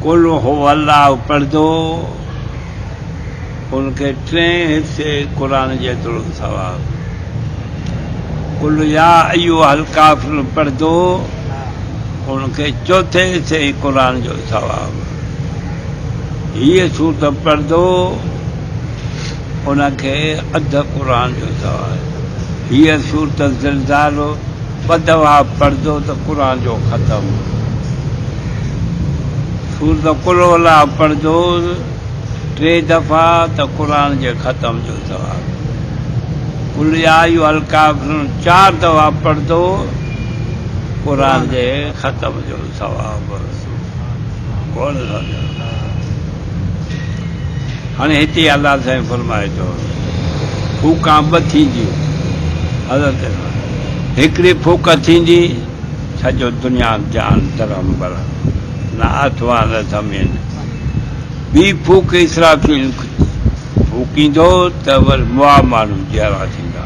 قل هو الله پڙهندو، ان کي ٽئين حصي قرآن جيتوڻو ثواب، قل يا ايها الڪافرون پڙهندو، ان کي چوٿين حصي قرآن جو ثواب، هيء سورت پڙهندو، ان کي اڌ قرآن جو ثواب، هيء سورت زلزال، بدوها پڙھجو ته قرآن جو ختم سورت قل هو الله پڙھجو ٽي دفعا ته قرآن جي ختم جو ثواب قل يا ايها الڪافرون چار دفعا پڙھجو قرآن جي ختم جو ثواب هاڻي هتي الله سائين فرمائي ٿو ڦوڪان ٻه ٿينديون حضرت هڪڙي ڦوڪ ٿيندي سڄو دنيا جهان درهم برهم نه آتما نه زمين ٻي ڦوڪ اسرافيل ڦوڪيندو ته ور موا ماڻهو جيئرا ٿيندا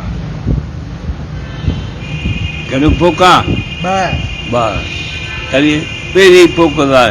گهڻيون ڦوڪان ٻه تڏهن پهرين ڦوڪ لاء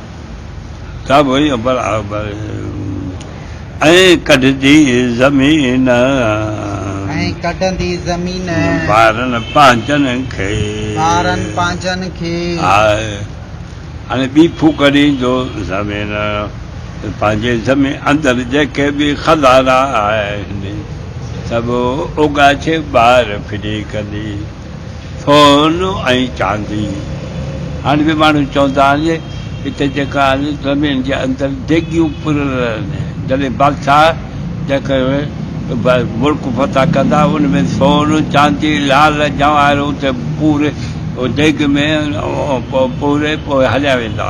ائين ڪڍندي زمين. ٻارن پنهنجن کي. هاڻي ٻي ڦوڪ ڏيندو زمين. پنهنجي زمين اندر جيڪي به خزانا آهن. سڀ اوڳاڇي ٻاهر ڦٽي ڪندي. سون ۽ چاندي هاڻي به ماڻهو چوندا آهن جي هتي جيڪا آهن زمين جي اندر ديڳيون پريل آهن جڏهن بادشاهه جيڪي ملڪ فتح ڪندا ان ۾ سون چاندي لال جواهر اتي پوري ديڳ ۾ پوري پوء هليا ويندا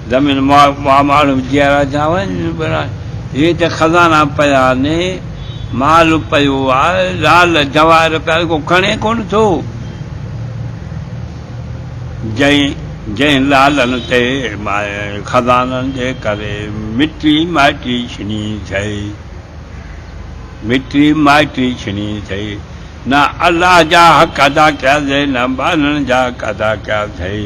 زمين ماڳ پاماڙ وجهيا را جاون ٻرا هي ته خزانا پيا ني مال پيو آ لعل جواهر پيا ڪو کڻي ڪونه ٿو جنهن جنهن لعلن تي خزانن جي ڪري مٽي مائٽي ڇني ٿئي مٽي مائٽي ڇني ٿئي نه الله جا حق ادا ڪيا ٿئي نه ٻانهن جا حق ادا ڪيا ٿئي.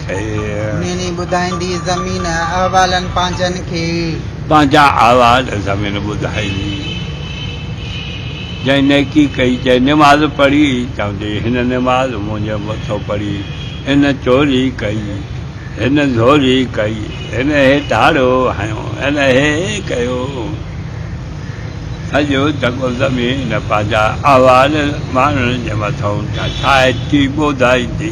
مينهن ٻڌائيندي زمين احوالن پنهنجن کي. پنهنجا احوال زمين ٻڌائيندي. جنهن نيڪي ڪئي جنهن نماز پڙهي. چوندي هن نماز منهنجي مٿو پڙهي. هن چوري ڪئي هن زوري ڪئي. هن هي ڌاڙو هنيو هن هي ڪيو. سڄو جڳو زمين پنهنجا احوال ماڻهن جي مٿئون ڇائجي ٻوڌائيندي.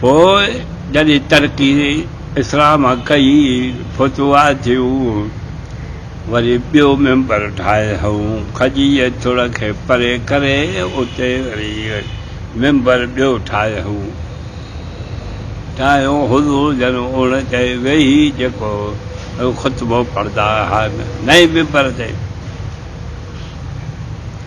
پوء جڏهن ترڪي اسلام ڪئي، فتوحات ٿيون، وري ٻيو ممبر ٺاهي هنئون کجيء ٿڙ کي پري ڪري اتي وري ممبر ٻيو ٺاهي هنئون ٺاهيو حضور جن ان تي ويهي جيڪو خطبو پڙهندا هئا نئين ممبر تي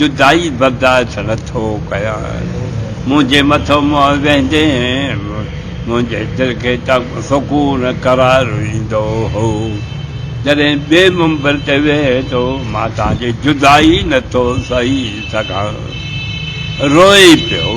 جدائي برداشت نه ٿو ڪيان منهنجي مٿو منهن ويندين منهنجي دل کي ته سڪون قرار ايندو هو جڏهن ٻئي منبر تي ويهي ٿو مان توهان جي جدائي نه ٿو سهي سگهان روئي پيو.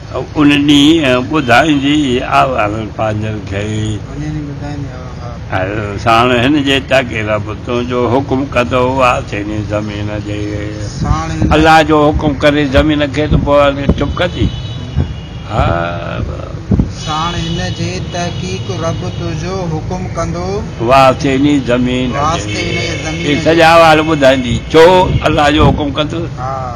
ان ڏينهن ٻڌائيندي آء هر پنهنجن کي. هر ساڻ هن جي تڪ رب تنهنجو حڪم ڪندو آء سيني زمين جي. الله جو حڪم ڪري زمين کي ته پوء هن چپ ڪندي؟ هاء. ساڻ هن جي تحقيق رب تنهنجو حڪم ڪندو. آء سيني زمين جي. هي سڄا احوال ٻڌائيندي ڇو الله جو حڪم ڪندو؟ هاء.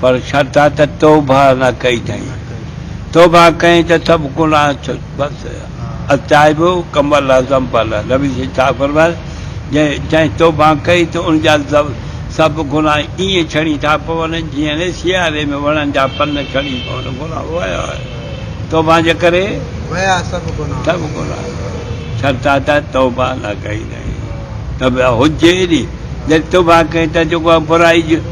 پر شرط آ ته توبه نه ڪئي ٿئين. توبه ڪئين ته سڀ گناهه ڇڏ بس. التائب ڪمن لا ذنب له، نبي صلي ڇا فرمايو جنهن جنهن توبه ڪئي ته ان جا سڀ گناهه ائين ڇڻي ٿا پون جيئن سياري ۾ وڻن جا پن ڇڻي پون گناهه ويا توبه جي ڪري ويا سڀ گناهه شرط آ ته توبه نه ڪئي ٿئين توبه هجي ني جڏهن توبه ڪئين ته جيڪو آ برائي